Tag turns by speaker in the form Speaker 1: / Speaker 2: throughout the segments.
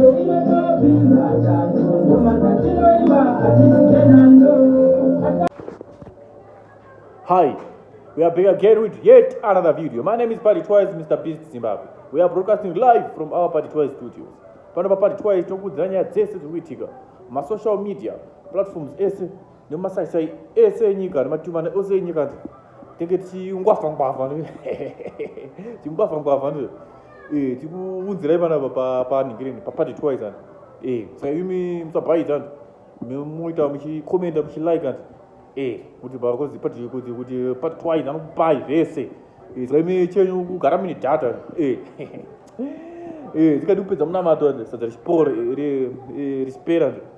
Speaker 1: Hi, we are back again with yet another video. My name is Party Twice, Mr. Beast Zimbabwe. We are broadcasting live from our Party Twice studios. Pano pa Party Twice tokudzira nyaya dzese dziri kuitika masocial media platforms ese nemasaisai ese enyika nematumana ose enyika nzi tenge tichingwavha ngwavha tichingwavha ngwavha ndo eh, tikuunzirai panapa panhingirini papati twice andi eh, saka imi musabhaidza andi muita muchikomenda muchilike andi eh, kuti bakozi pati kuti kuti pati twice anokupai zvese eh, saka imi chenyu kugara mine data tikati kupedza munamato andi sadza richipora rispera andi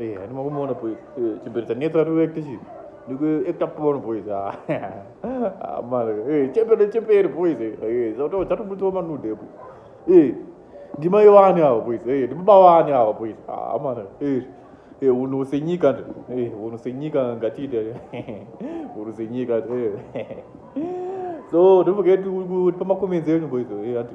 Speaker 1: Eh, hadi makumona boys. Eh, chimbereta netsa ri actor chi. Ndiko actor porn boys. Ah. Ah, mara. Eh, chembere chembere boys. Eh, zoto tatu mutu wa manude boys. Eh. Ndima yowani awo boys. Eh, ndima bawani awo boys. Ah, mara. Eh. Eh, uno senyika ndo. Eh, uno senyika ngati ite. Uno senyika. Eh. So, don't forget to put my comments there boys. Eh, ati.